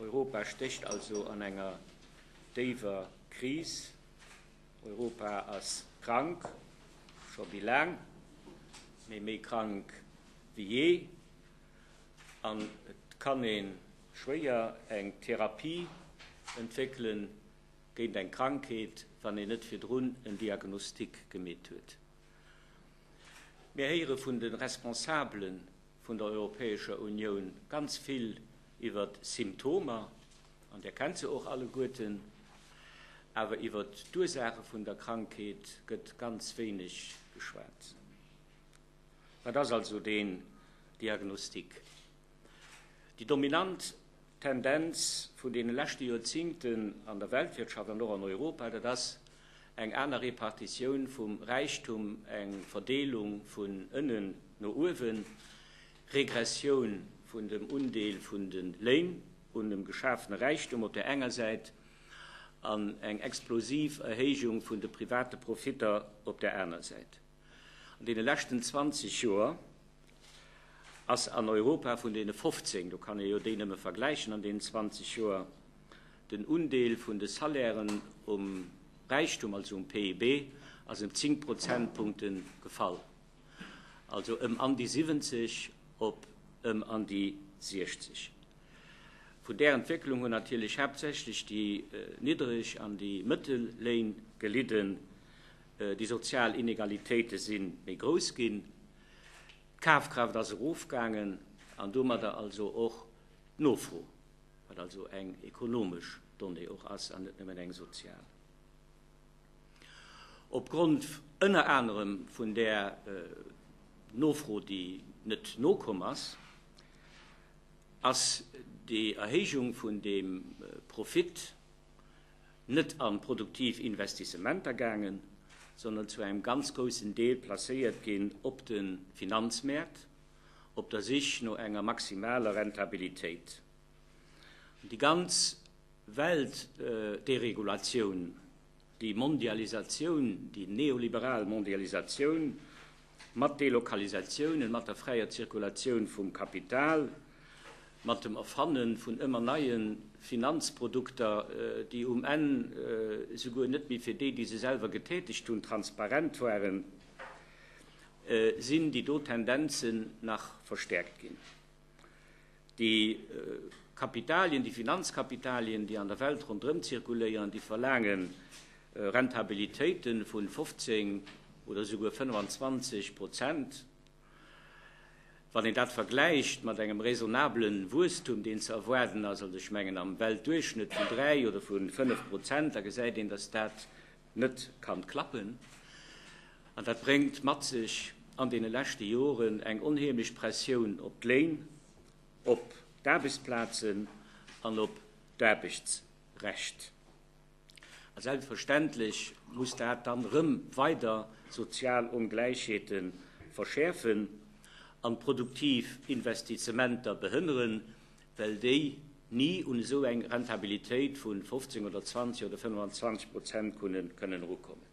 Europa stécht also an enger déiwer Kris. Europa ass krank, scho méi laang, mee méi krank wéi jee. An et kann ee schwéier eng Therapie entwéckele géint eng Krankheet, wann een net virdrun en Diagnostic gemeet huet. Mir héiere vun de Responsabele vun der Europäescher Unioun ganz vill iwwer d'Symptomer, an Dir kennt se och alleguerten, awer iwwer d'Ursaache vun der Krankheet gëtt ganz wéineg geschwat. Wat ass also deen Diagnostic? Déi dominant D'Tendenz vun deene leschte Joerzingten an der Weltwirtschaft an och an Europa, dat ass eng aner Repartitioun vum Räichtum, eng Verdeelung vun ënnen no uewen, Regressioun vun dem Undeel vun de Léin un dem geschafene Räichtum op där enger Säit an eng explosiv Erhéijung vun de private Profitter op där aner Säit. An deene leschten 20 Joer ass an Europa vun deene 15, do kann ee jo déi nëmme vergläichen an deenen 20 Joer, den Undeel vun de Salairen um Räichtum, also um PIB, ass ëm 10 Prozentpunkte gefall, also ëm an déi 70 op ëm an déi 60. Vun där Entwécklung hunn natierlech haaptsächlech déi niddreg an déi mëttel Léin gelidden. Déi sozial Inegalitéite si méi grouss ginn, d'Kafkraaft ass erofgaangen an domadder also och d'Nofro, wat also eng ekonomesch Donnée och ass an net nëmmen eng sozial. Opgrond ënner anerem vun där Nofro, déi net nokomm ass, ass déi Erhéijung vun deem Profit, net an produktiv Investissementer gaangen, sondern zu engem ganz groussen Deel placéiert ginn op de Finanzmäert op der Sich no enger maximaler Rentabilitéit. An déi ganz Weltderegulatioun, déi Mondialisatioun, déi neoliberal Mondialisatioun mat Delokalisatiounen, mat der fräier Zirkulatioun vum Kapital, mat dem Erfanne vun ëmmer neie Finanzprodukter, déi um Enn esouguer net méi fir déi, déi se selwer getätegt hunn, transparent waren, sinn déi do Tendenzen nach verstäerkt ginn. Déi Kapitalien, déi Finanzkapitalien, déi an der Welt ronderëm zirkuléieren, déi verlaange Rentabilitéite vu 15 oder esouguer 25 Prozent. Wann een dat vergläicht mat engem raisonnabele Wuesstum, deen ze erwaarden ass, also ech mengen am Weltduerchschnëtt vun dräi oder vu fënnf Prozent, da gesäit een, datt dat net ka klappen. An dat bréngt mat sech an deene leschte Joren eng onheemlech Pressioun op d'Léin, op d'Aarbechtsplazen an op d'Aarbechtsrecht. A selbstverständlech muss dat dann erëm weider sozial Ongläichheete verschäerfen an produktiv Investisementer behënneren, well déi ni un esou eng Rentabilitéit vu 15 oder 20 oder 25 Prozent kënnen erukommen.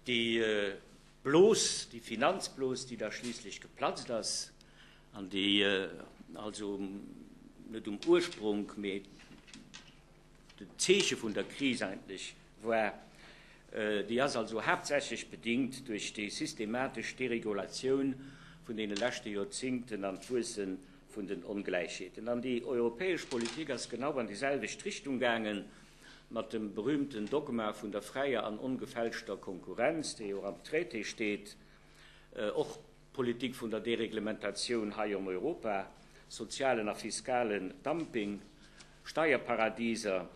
Déi Blos, déi Finanzblos, déi da schliisslech geplatzt ass an déi also net um Urspronk, mee, Den Zeeche vun der Kris eigentlech war. Déi ass also haaptsächlech bedingt duerch déi systematesch Deregulatioun vun deene leschte Joerzingten an d'Wuesse vun den Ongläichheeten. An déi europäesch Politik ass genau an déi selwecht Richtung gaange mat dem berühmten Dogma vun der fräier an ongefälschter Konkurrenz, dee jo och am Traité steet. Och. D'Politik vun der Dereglementatioun hei an Europa, sozialen a fiskalen Dumping, Steierparadiser,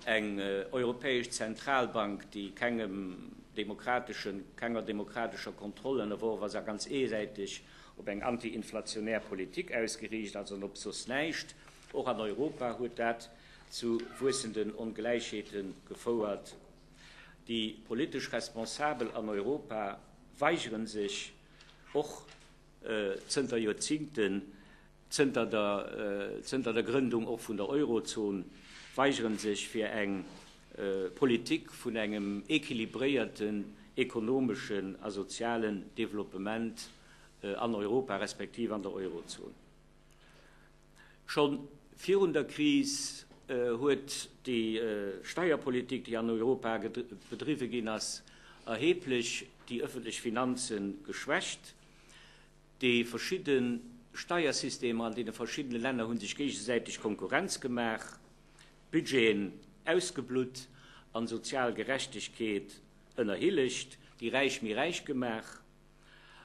eng europäesch Zentralbank, déi kengem demokrateschen, kenger demokratescher Kontroll ënnerworf ass a ganz eesäiteg op eng anti-inflationär Politik ausgeriicht ass an op soss näischt, och an Europa huet dat zu wuessenden Ongläichheete gefouert. Déi politesch Responsabel an Europa weigeren sech och zënter Joerzingten, zënter der zënter der Grëndung och vun der Eurozon, weigeren sech fir eng Politik vun engem équilibréierten ekonomeschen a sozialen Développement an Europa respektiv an der Eurozon. Scho virun der Kris huet déi Steierpolitik, déi an Europa bedriwwe ginn ass, erheblech déi ëffentlech Finanze geschwächt. Déi verschidde Steiersystemer an deene verschiddene Länner hu sech géigesäiteg Konkurrenz gemaach, d'Budgeten ausgeblutt an sozial Gerechtegkeet ënnerhillegt, déi Räich méi räich gemaach.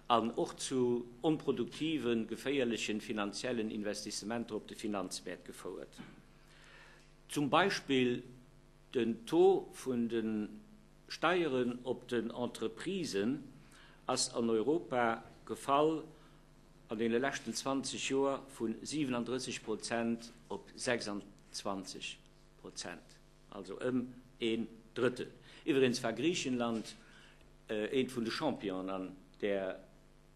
an och zu onproduktiven, geféierlechen finanziellen Investissementer op de Finanzmäert gefouert. Zum Beispill den Taux vun de Steieren op den Entreprisen ass an Europa gefall an deene leschten 20 Joer vu 37 Prozent op 26 Prozent. also ëm een Drëttel. Iwweregens war Griichenland eent vun de Championen an där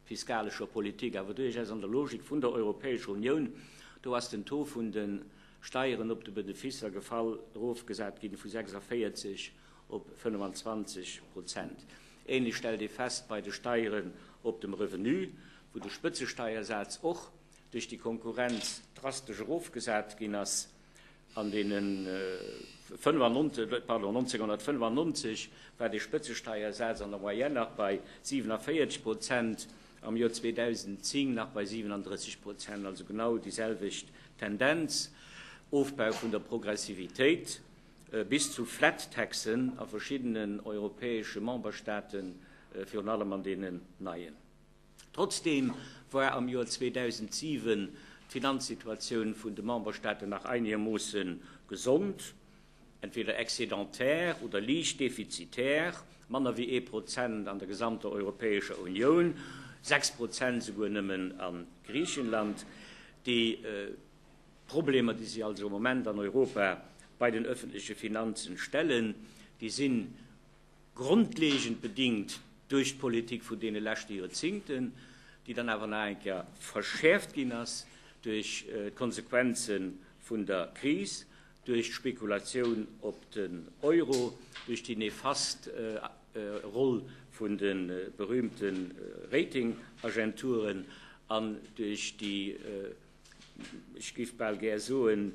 fiskalescher Politik, awer duerchaus an der Logik vun der Europäescher Unioun. Do ass den Taux vun de Steieren op de Beneficer gefall, erofgesat ginn vu 46 op 25 Prozent. Ähnlech stellt ee fest bei de Steieren op dem Revenu, wou de Spëtzesteiersaz och duerch déi Konkurrenz drastesch erofgesat ginn ass. An den 1995 war de Spëtzesteiersaz an der Moyenne nach bei 47 Prozent, am Joer 2010 nach bei 37 Prozent, also genau déi selwecht Tendenz, Ofbau vun der Progressivitéit, bis zu flat taxen a verschiddenen europäesche Memberstaaten, virun allem an deenen neien. Trotzdeem war am Joer 2007 d'Finanzsituatioun vun de Memberstaaten nach einegermoosse gesond, entweder excédentaire oder liicht defizitär, manner wéi ee Prozent an der gesamter Europäescher Unioun, sechs Prozent esouguer nëmmen a Griichenland. Déi Problemer, déi sech also am Moment an Europa bei den öffentleche Finanzen stellen, déi sinn grondlegend bedingt duerch d'Politik vun deene leschte Joerzingten, déi dann awer nach eng Kéier verschäerft ginn ass duerch d'Konsequenze vun der Kris, duerch d'Spekulatioun op den Euro, duerch déi nefast Roll vun de berühmte Ratingagenturen an duerch déi, ech géif bal gär soen,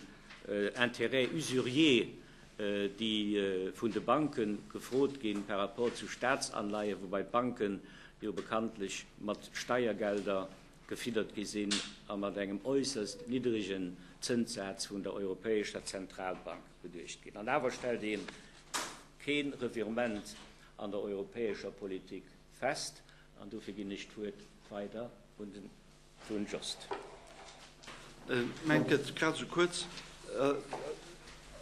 Intérêts usuriers, déi vun de Banke gefrot ginn par rapport zu Staatsanleihen, woubai d'Banke jo bekanntlech mat Steiergelder gefiddert gi sinn a mat engem äusserst niddrigen Zënssaz vun der Europäescher Zentralbank beduecht ginn. An awer stellt ee kee Revirement an der europäescher Politik fest. An dofir ginn ech d'Wuert weider un den Don Jost. Ech mengt gëtt grad esou kuerz.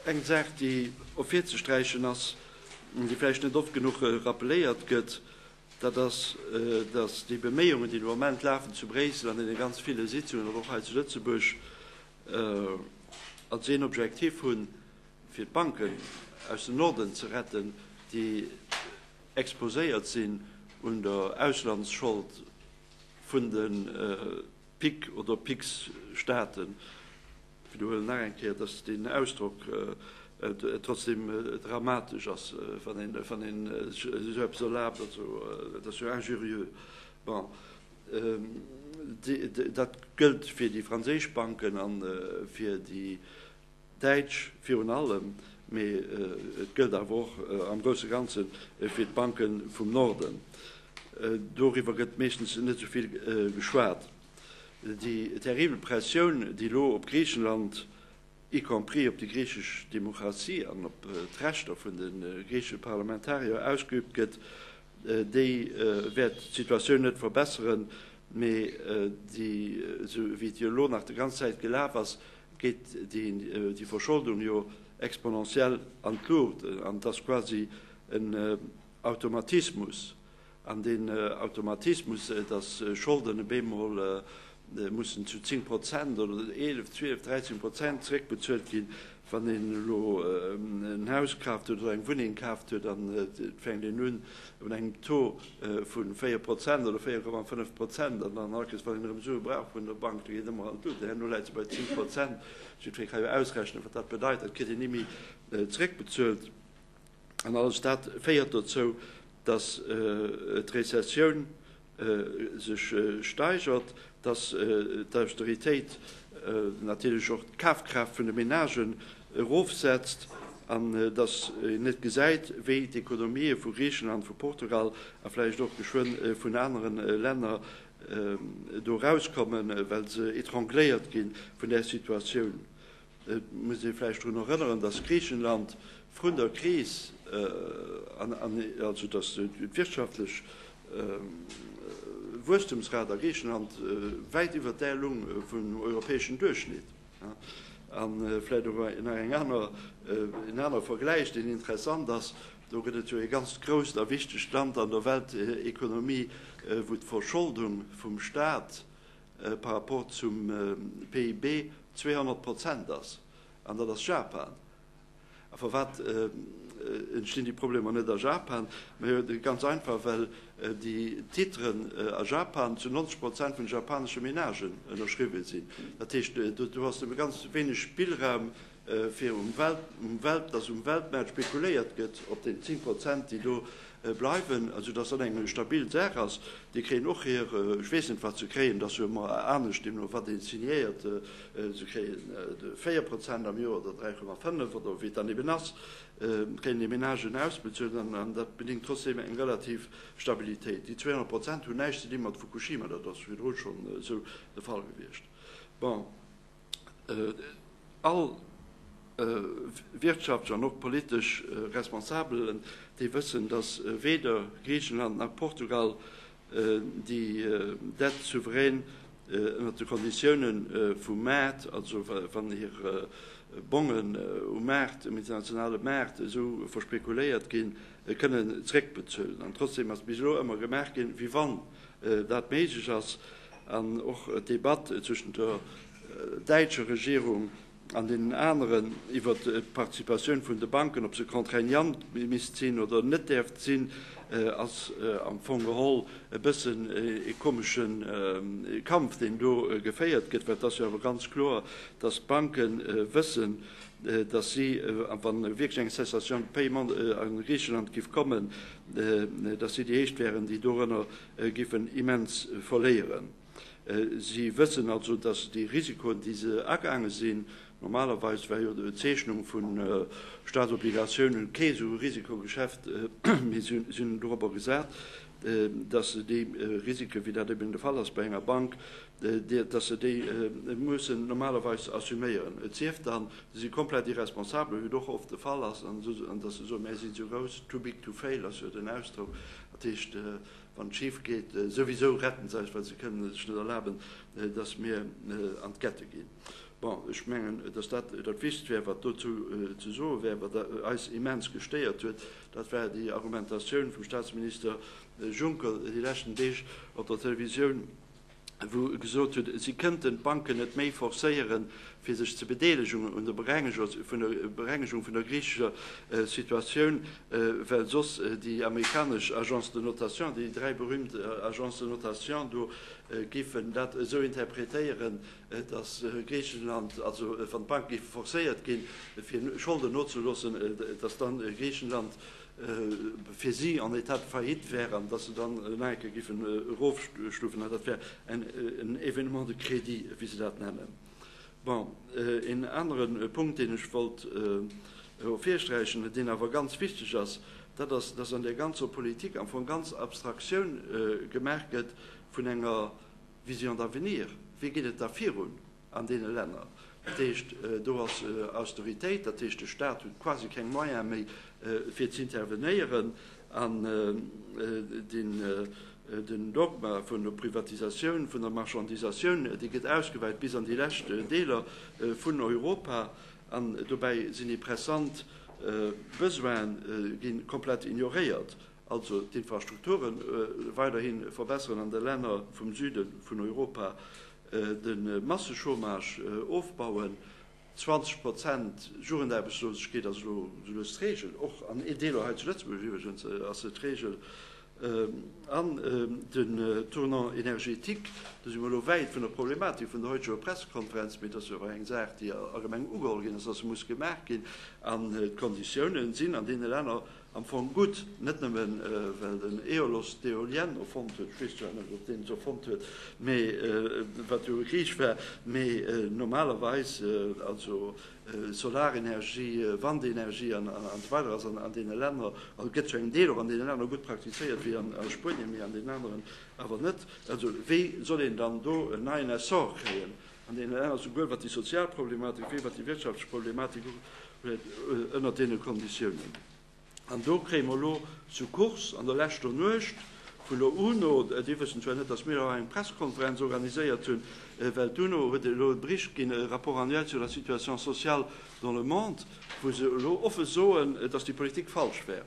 Eng Saach déi ervirzesträichen ass, déi vläicht net oft genuch rappeléiert gëtt, dat ass, datt déi Beméiungen déi de Moment lafen zu Bréissel an deene ganz ville Sitzungen, awer och hei zu Lëtzebuerg, als een Objektiv hunn, fir d'Banken aus dem Norden ze retten, déi exposéiert sinn un der Auslandsschold. vun de PIC oder PIGS-Staaten, widderhuelen nach eng Kéier, dass deen Ausdrock trotzdeem dramatesch ass, wann ee sech esou eppes erlaabt, also et ass jo injurieux. Bon, dat gëllt fir déi franséisch Banken a fir déi Däitsch virun allem, mee et gëllt awer och am grousse Ganze fir d'Banke vum Norden. Doriwwer gëtt meeschtens net esou vill geschwat. Déi terribel Pressioun, déi elo op Griichenland, y compris op déi griichesch Demokratie an op d'Rechter vun de griichesche Parlamentarier ausgeüübt gëtt, déi wäert d'Situatioun net verbesseren, mee esou wéi et jo elo nach de ganz Zäit gelaf ass, geet déi Verscholdung jo exponentiell an d'Luucht, an et ass quasi en Automatismus, an deen Automatismus, datt Scholden op eemol mussen zu 10 Prozent oder 11, 12, 13 Prozent zeréckbezuelt ginn, wann een elo en Haus kaaft huet oder eng Wunneng kaaft huet an et fänkt een un un engem Taux vu 4 Prozent oder 4,5 Prozent an dann alkes wann een erëm Sue brauch vun der Bank, da geet ëmmer alt un. Herno läit se bei 10 Prozent. Jiddweree ka jo ausrechnen, wat dat bedeit. Dat kritt een ni méi zeréckbezuelt. An alles dat féiert dozou, datt d'Rezessioun sech steigert, dass d'Austeritéit natierlech och d'Kafkraaft vun de Menagen erofsetzt an dass een net gesäit, wéi d'Ekonomië vu Griichenland, vu Portugal a vläicht och geschwënn vun anere Länner do erauskommen, well se étrangléiert gi vun där Situatioun. Et muss ee vläicht drun erënneren, datt Griichenland vrun der Kris, also datt d'wirtschaftlech Wuesstumsrat a Griichenland wäit iwwer där lung vum europäeschen Duerchschnitt. A vläicht och nach eng aner, en anere Vergläich, deen interessant ass, do gëtt et jo ee ganzt grousst a wichtegt Land an der Weltekonomie, wou d'Verscholdung vum Stat, par rapport zum PIB 200 Prozent ass, an dat ass Japan. A firwat entstinn déi Problemer net a Japan? Ganz einfach, well déi Titren a Japan zu 90 Prozent vun de japanesche Menagen ënnerschriwwen sinn. Dat heescht, do ass ganz wéineg Spillraum fir um Welt, dass um Weltmaart spekuléiert gëtt op den 10 Prozent, déi do bleiwen, also dass dat eng stabil Saach ass. Déi kréien och hir, ech weess net, wat se kréien, dat ass jo ëmmer anescht, deemno wat ee signéiert, se kréien 4 Prozent am Joer oder 3,5 oder wéi et dann eben ass, kréien déi Ménagen ausbezuelt an dat bedéngt trotzdeem eng relativ Stabilitéit. Déi 200 Prozent hunn näischt ze dinn mat Fukushima, dat ass virdru schonn esou de Fall gewiescht. Bon. All wirtschaftlech an och politesch Responsabelen, déi wëssen, datt weder Griichenland nach Portugal déi Dette souverän ënnert de Konditioune vum Maart, also wann hir Bongen um Maart, um internationale Maart esou verspekuléiert ginn, kënnen zréckbezuelen. An trotzdem ass bis elo ëmmer gemaach ginn, wéi wann dat méiglech ass. An och d'Debatt zwëschent der däitscher Regierung an deenen aneren iwwert d'Participatioun vun de Banken, ob se contraignant misst sinn oder net däerft sinn, ass am Fong geholl e bëssen ee komesche Kampf, deen do geféiert gëtt. Well et ass jo awer ganz kloer, datt d'Banke wëssen, datt si, wa wierklech eng Cessation de paiement a Griicheland giff kommen, datt si déi éischt wäeren, déi dorënner giffen immens verléieren. Si wëssen also, datt déi Risikoen, déi se agaange sinn, normalerweis war jo d'Zeechnung vu Staatsobligatiounen kee sou e Risikogeschäft, mee si hunn dorobber gesat, datt se déi Risiken, wéi dat eben de Fall ass bei enger Bank, datt se déi mussen normalerweis assuméieren, et sief dann, se si komplett irresponsabel, wéi et och oft de Fall ass, an datt se soen, mä si si sou grouss, too big to fail ass jo den Ausdrock, Dat heescht, wann et schif geet, souwisou retten se eis, well se kënnen sech net erlaben, dass mir an d'Ghettë ginn. Bon, ech mengen, dass dat dat Wichtigst wär, wat dozou ze soe wär. Wat eis immens gestéiert huet, dat war déi Argumentatioun vum Statsminister Juncker déi leschten Deeg op der Televisioun, wou e gesot huet, si kënnten d'Banken net méi forcéieren, fir sech ze bedeelegen un der Berengegung vun der griichescher Situatioun, well soss déi amerikanesch Agences de notation, déi dräi berühmt Agences de notation do, géifen dat esou interpretéieren, datt Griichenland, also wann d'Banke géife forcéiert ginn, fir Scholden nozeloossen, datt dann Griichenland fir si en état de faillite wären an datt se dann nach eng Kéier géifen erofstufen, dat wär en événement de crédit, wéi se dat nennen. Bon, een anere Punkt, deen ech wollt erofhirsträichen, deen awer ganz wichteg ass, dat ass, datt an där ganzer Politik am Fong ganz Abstraktioun gemaach gëtt vun enger Vision d'avenir. Wéi geet et da virun? an deene Länner. Dat heescht, do ass Austeritéit, dat heescht, de Stat huet quasi keng Moyene méi, fir z'intervenéieren. An den Dogma vun der Privatisatioun, vun der Marchandisatioun, dee gëtt ausgeweit bis an déi lescht Deeler vun Europa. An dobäi sinn déi pressant Besoine gi komplett ignoréiert, also d'Infrastrukture weiderhi verbesseren an de Länner vum Süde vun Europa, de Massechômage ofbauen, 20 Prozent Jugendaarbechtslosegkeet ass elo lues d'Regel, och an ee Deeler hei zu Lëtzebuerg iwwregens ass se d'Regel, an den Tournant énergétique, do si mer elo wäit vun der Problematik vun der heuteger Pressekonferenz, mee dat ass jo awer eng Saach, déi allgemeng ugeholl ginn ass, dass se muss gemaach ginn, an d'Konditiounen sinn an deene Länner Am Fong gutt, net nëmme well den Aiolos d'Eolienne erfonnt huet, ech weess zwar net, ob deen se erfonnt huet, mee wat jo e Griich war, mee normalerweis, also Solarenergie, Wandenergie an esou weider ass an deene Länner, also gëtt zu engem Deel och an deene Länner gutt praktizéiert wéi a Spuenien, mee an deenen aneren awer net. Also wéi soll een dann do en neien Essor kréien? An deenen Länner, esouguer wat déi sozial Problematik wéi wat déi wirtschaftlech Problematik ugeet, ënner deene Konditiounen. An do kréie mer elo zu Kurs an der leschter Nuecht vun der UNO, déi wëssen zwar net, datt mir hei eng Pressekonferenz organiséiert hunn, well d'UNO huet elo e Bericht ginn, e Rapport annuel sur la situation sociale dans le monde, wou se elo offen soen, datt déi Politik falsch wär.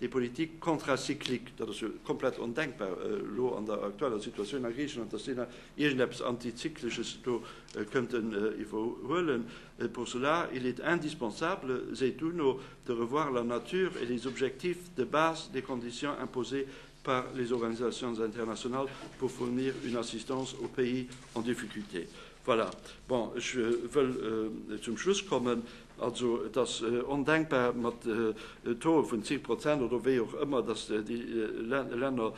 Déi Politik contracyclique, dat ass jo komplett ondenkbar elo an der aktueller Situatioun a Griichenland, datt déi nach iergendeppes Anticycleches do kënnten iwwerhuelen. Pour cela, il est indispensable, seet d'UNO, de revoir la nature et les objectifs de base des conditions imposées par les organisations internationales pour fournir une assistance aux pays en difficulté. Voilà, bon, ech wëll zum Schluss kommen. Also et ass ondenkbar mat Taux vun 10 Prozent oder wéi och ëmmer, datt déi Länner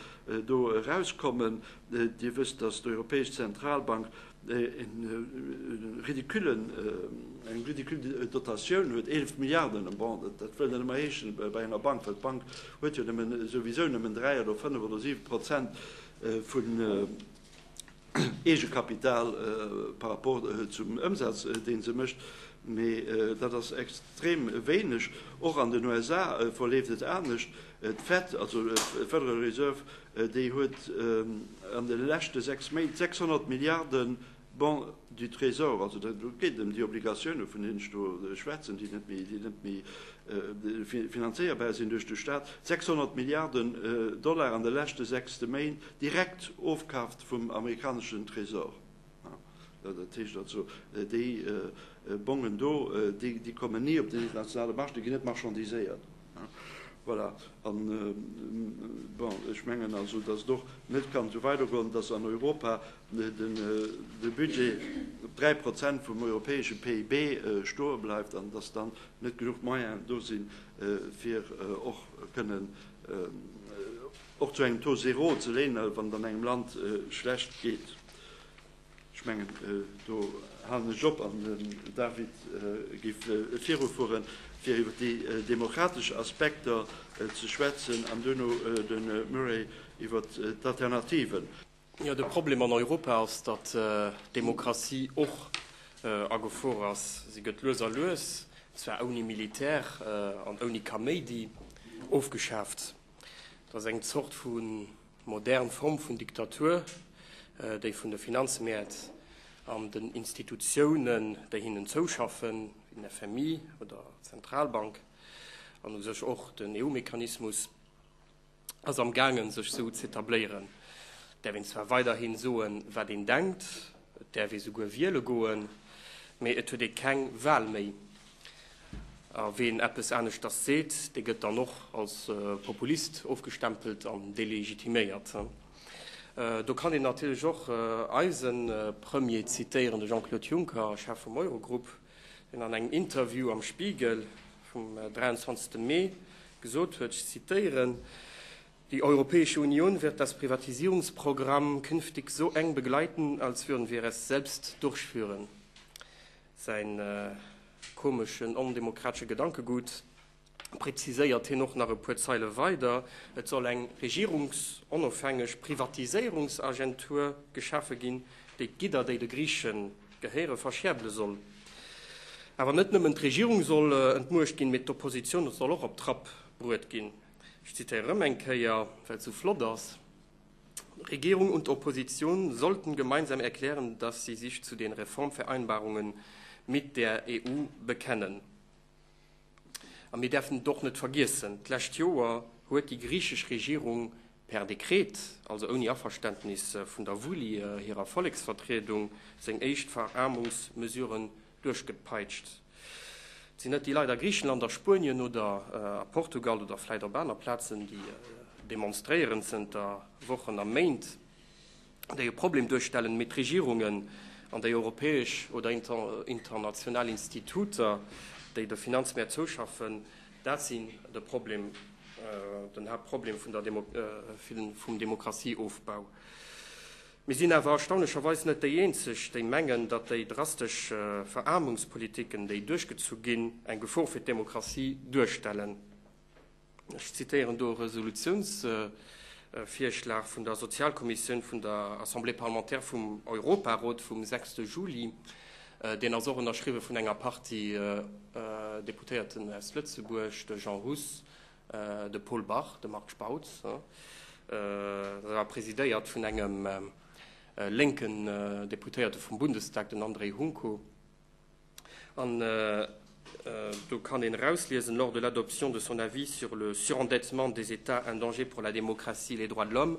do erauskommen. Dir wësst, datt d'Europäesch Zentralbank eng ridicule Dotatioun huet, 11 Milliarden an Bonds. Dat wëll net ëmmer heeschen bei enger Bank, well d'Bank huet jo souwisou nëmmen 3 oder 5 oder 7 Prozent vun Eegekapital par rapport zum Ëmsaz, dee se mécht, mee dat ass extrem wéineg. Och an den USA verleeft et anescht. D'Fed, also d'Federal Reserve, déi huet an de leschte sechs Méint 600 Milliarde Bons du Trésor, also et geet ëm déi Obligatioune vun deenen ech do schwätzen, déi net méi, déi net méi finanzéierbar sinn duerch de Staat, 600 Milliarde Dollar an de leschte sechs Méint direkt ofkaaft vum amerikaneschen Trésor, dat heescht also déi Bongen do, déi kommen ni op den internationale Marché, déi ginn net marchandiséiert. Voilà, an, bon, ech mengen also, dass et och net kann esou weidergoen, dass an Europa de Budget op 3 Prozent vum europäesche PIB stoe bleift an dass dann net genuch Moyenen do sinn, fir och kënnen, Och zu engem Taux zéro ze léne wann et an engem Land schlecht geet. Ech mengen do halen ech op an den David géif virufuere fir iwwer déi demokratesch Aspekter ze schwätzen an duerno de Murray iwwer d'Alternativen. Jo, de Problem an Europa ass, datt d'Demokratie och a Gefor ass. Si gëtt lues a lues, zwar ouni Militär an ouni Kaméidi, ofgeschaaft. Et ass eng Zort vu modern Form vun Diktatur, déi vun de Finanzmäert an den Institutiounen, déi hinnen zouschaffen, wéi den FMI oder d'Zentralbank an u sech och den EU-Mechanismus, ass am gaangen, sech esou z'etabléieren. Et däerf een zwar weiderhi soen, wat een denkt, et däerf ee souguer wiele goen, mee et huet ee keng Wal méi. A ween eppes aneschters seet, dee gëtt dann och als Populist ofgestempelt an delegitiméiert. Do kann een natierlech och eise Premier zitéieren, de Jean-Claude Juncker, Chef vum Eurogrupp, deen an engem Interview am Spiegel vum 23 Mee gesot huet, ech zitéieren, Die Europäische Union wird das Privatisierungsprogramm künftig so eng begleiten, als würden wir es selbst durchführen. Säin komeschen, ondemokratesche Gedankegut präziséiert hien och nach e puer Zeile weider, Et soll eng regierungsonofhängeg Privatiséierungsagentur geschafe ginn, déi d'Gidder, déi de Griiche gehéiere, verschäerdele soll. Awer net nëmmen d'Regierung soll entmuecht ginn, mee d'Oppositioun soll och op d'Trapp bruet ginn. Ech zitiere rëm eng Kéier, well et esou flott ass. Regierung und Opposition sollten gemeinsam erklären, dass sie sich zu den Reformvereinbarungen mit der EU bekennen. A mir därfen et och net vergiessen, d'lescht Joer huet déi griechisch Regierung per Dekret, also ouni Averständnis vun der Vullie hirer Volleksvertriedung, seng éischt Verarmungsmesuren duerchgepeitscht sinn net déi Leit a Griichenland, a Spuenien oder a Portugal oder vläit op aner Plazen, déi demonstréieren zënter Wochen a Méint, déi e Problem duerstellen, mee d'Regierungen an déi europäesch oder international Instituter, déi de Finanzmäert zouschaffen, dat sinn de Problem, den Haaptproblem vum Demokratieofbau. Mir sinn awer erstaunlecherweis net déi Eenzeg, déi mengen, datt déi drastesch Veraarmungspolitiken, déi duerchgezu ginn, eng Gefor fir d'Demokratie duerstellen. Ech zitieren do e Resolutiounsvirschlag vun der Sozialkommissioun vun der Assemblée parlementaire vum Europarot vum 6 Juli. Deen ass och ënnerschriwwe vun enger Partie Deputéierten aus Lëtzebuerg, de Jean Huss, De Paul Bach, de Marc Spautz, war presidéiert vun engem lénken Deputéierte vum Bundestag, den André Hunko. An do kann een erausliesen, Lors de l'adoption de son avis sur le surendettement des États, un danger pour la démocratie et les droits de l'homme,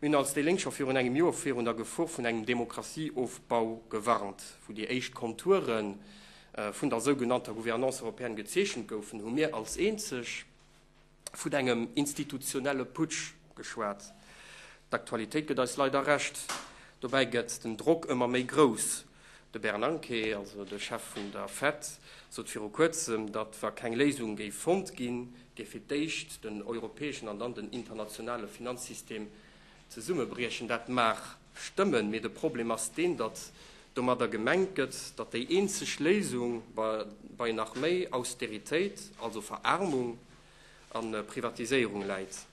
Mir hunn als déi Lénk scho virun engem Joer virun der Gefor vun engem Demokratieofbau gewarnt. Wou déi éischt Konture vun der sougenannter Gouvernance européenne gezeechent goufen, hu mir als eenzeg vun engem institutionelle Putsch geschwat. D'Aktualitéit gëtt eis leider Recht. Dobäi gëtt den Drock ëmmer méi grouss. De Bernanke, also de Chef vun der Fed, sot viru kuerzem, datt wa keng Léisung géif fonnt ginn, géif fir d'éischt den europäeschen an dann den internationale Finanzsystem zesummebriechen. Dat mag stëmmen, mee de Problem ass deen, datt domadder gemengt gëtt, datt déi eenzeg Léisung bei nach méi Austeritéit, also Veraarmung a Privatiséierung läit.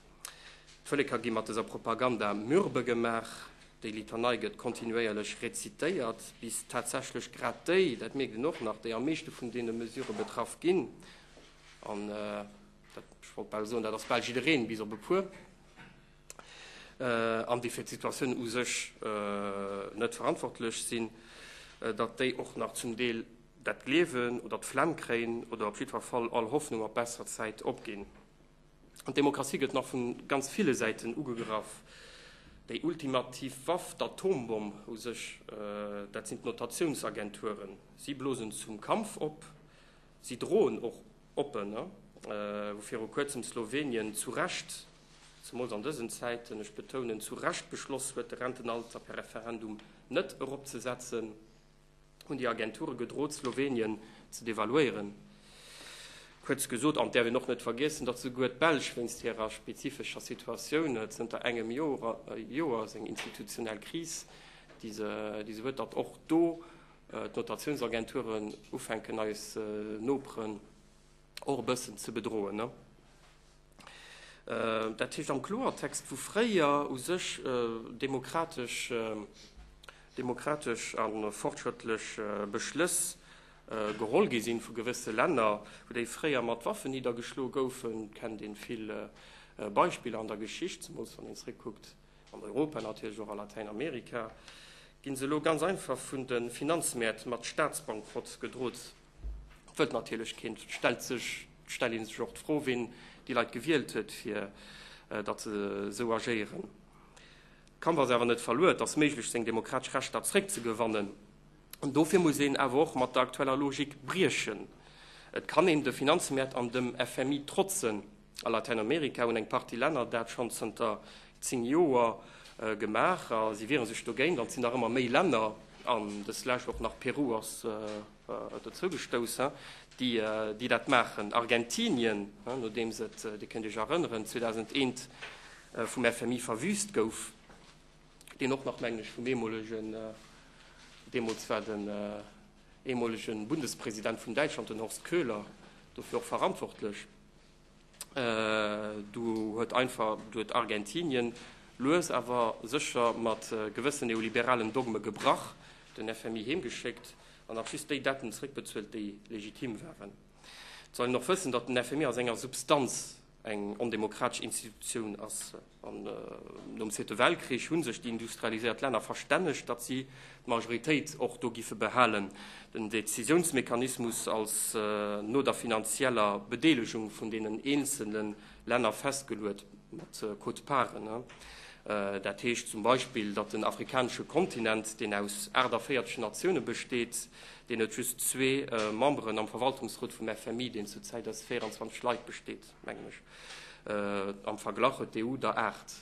D'Vëleker gi mat dëser Propaganda mürbe gemaach. Déi Litanei gëtt kontinuéierlech rezitéiert, bis tatsächlech grad déi, dat mierkt een och nach, déi am meeschte vun deene Mesurë betraff ginn, an dat, ech wollt bal soen, dat ass bal jiddereen, bis op e puer, an déi fir d'Situatioun u sech net verantwortlech sinn, datt déi och nach zum Deel dat gleewen oder d'Flemm kréien oder op jiddwer Fall all Hoffnung op besser Zäit opginn. An d'Demokratie gëtt nach vun ganz ville Säiten ugegraff. Déi ultimativ Waff, d'Atombomm u sech, dat sinn d'Notatiounsagenturen. Si blosen zum Kampf op. Si droen och oppen, wou viru kuerzem Slowenien zu Recht, zemools an dësen Zäiten, ech betounen, zu Recht beschloss huet, de Rentenalter per Referendum net eropzesetzen. hunn déi Agenture gedrot, Slowenien ze devaluéieren. Kuerz gesot, an et däerf een och net vergiessen, datt souguer d'Belsch wéinst hirer spezifescher Situatioun zënter engem Joer seng institutionell Kris, déi se huet, datt och do d'Notatiounsagenturen ufänken eis Noperen Och e bëssen ze bedroen, ne? Dat heescht am Kloertext, wou fréier u sech demokratesch demokratesch a fortschrëttlech Beschlëss geholl gi sinn vu gewësse Länner, wou déi fréier mat Waffen niddergeschloe goufen, kennt ee vill Beispiller an der Geschicht, zemools wann een zréckkuckt an Europa, natierlech och a Latäinamerika, ginn se elo ganz einfach vun de Finanzmäert mat Staatsbankrott gedrot. Wëllt natierlech keen. Et stellt sech, et stellt ee sech och d'Fro, wien déi Leit gewielt huet, fir datt se esou agéieren. D'Kampf ass awer net verluer. Et ass méiglech, seng demokratesch Rechter zréckzegewannen. An dofir muss een awer och mat der aktueller Logik briechen. Et kann een de Finanzmäert an dem FMI trotzen. A Latäinamerika hunn eng Partie Länner dat schonn zënter zéng Joer gemaach a si wiere sech dogéint. An et sinn nach ëmmer méi Länner, an dës Lescht och nach Peru ass dozou gestoussen, déi dat maachen. Argentinien, nodeems et, Dir kënnt Iech erënneren, 2001 vum FMI verwüüst gouf, deen och nach, mengen ech, vum eemolegen, deemools war den eemolegen Bundespresident vun Däitschland, den Horst Köhler, dofir och verantwortlech, Do huet einfach do huet Argentinien lues awer sécher mat gewëssen neoliberalen Dogme gebrach, den FMI heemgeschéckt an nach just déi Detten zréckbezuelt, déi legitim waren. Et soll een och wëssen, datt den FMI a senger Substanz eng ondemokratesch Institutioun ass. Nom Zweete Weltkrich hu sech déi industrialiséiert Länner verstännegt, datt si d'Majoritéit och do giffe behalen. Den Décisiounsmechanismus ass no der finanzieller Bedeelegung vun deenen eenzelne Länner festgeluet, mat Quote-parten. Dat heescht zum Beispill, datt den afrikanesche Kontinent, deen aus 48 Natioune besteet, deen huet just zwee Memberen am Verwaltungsrot vum FMI, deen zur Zäit aus 24 Leit besteet. mengen ech. Am Verglach huet d'EU der 8.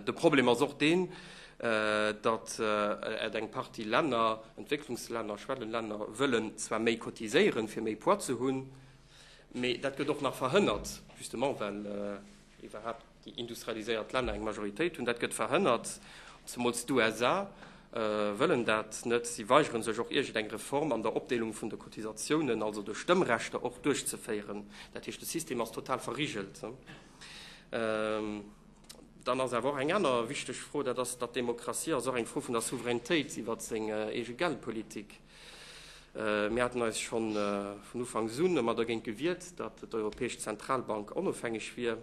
De Problem ass och deen, datt et eng Partie Länner, Entwécklungslänner, Schwellenlänner, wëllen zwar méi cotiséieren, fir méi Poids ze hunn, mee dat gëtt och nach verhënnert, justement well, iwwerhaapt déi industrialiséiert Länner eng Majoritéit hunn, dat gëtt verhënnert, zemools d'USA wëllen dat net, si weigeren sech och iergend eng Reform an der Opdeelung vun de Cotisatiounen, also de Stëmmrechter och, duerchzeféieren. Dat heescht, de System ass total verrigelt. Dann ass awer och eng aner wichteg Fro, dat ass, datt d'Demokratie ass och eng Fro vun der Souveränitéit iwwert seng eege Geldpolitik. Mir haten eis scho vun Ufanks un ëmmer dergéint gewiert, datt d'Europäesch Zentralbank onofhängeg wier,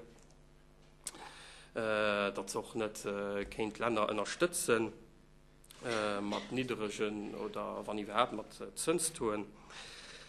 datt se och net kéint Länner ënnerstëtze mat nidderegen oder wann iwwerhaapt mat Zënstauxen.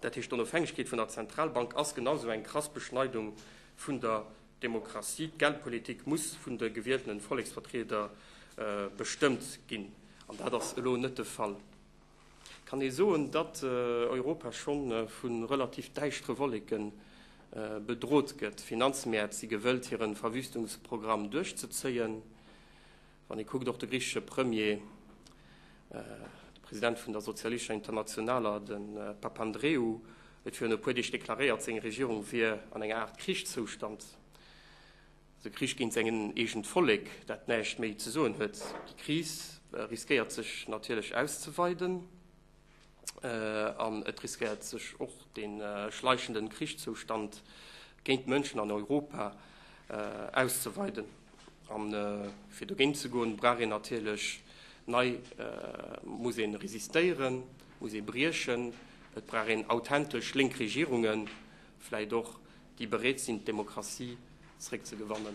Dat heescht, d'Onofhängegkeet vun der Zentralbank ass genau esou eng krass Beschneidung vun der Demokratie. D'Geldpolitik muss vun de gewieltene Volleksvertrieder bestëmmt ginn, an dat ass elo net de Fall. Kann ee soen, datt Europa scho vu relativ däischtere Wolleke bedroht gëtt? D'Finanzmäert si gewëllt, hire Verwüstungsprogramm duerchzezéien. Wann ee kuckt, och de griichesche Premier, de President vun der Sozialischer Internationaler, de Papandreou, huet virun e puer Deeg deklaréiert, seng Regierung wier an enger Aart Krichszoustand, also Krich géint säin eegent Vollek, dat näischt méi ze soen huet. Déi Kris riskéiert sech natierlech auszeweiden. an et riskéiert sech och de schleichenden Krichszoustand géint d'Mënschen an Europa auszeweiden. A fir dogéint ze goen, brauch een natierlech nei, muss ee resistéieren, muss ee briechen. Et brauch een authentesch lénk Regierungen, vläicht och, déi bereet sinn, d'Demokratie zeréckzegewannen.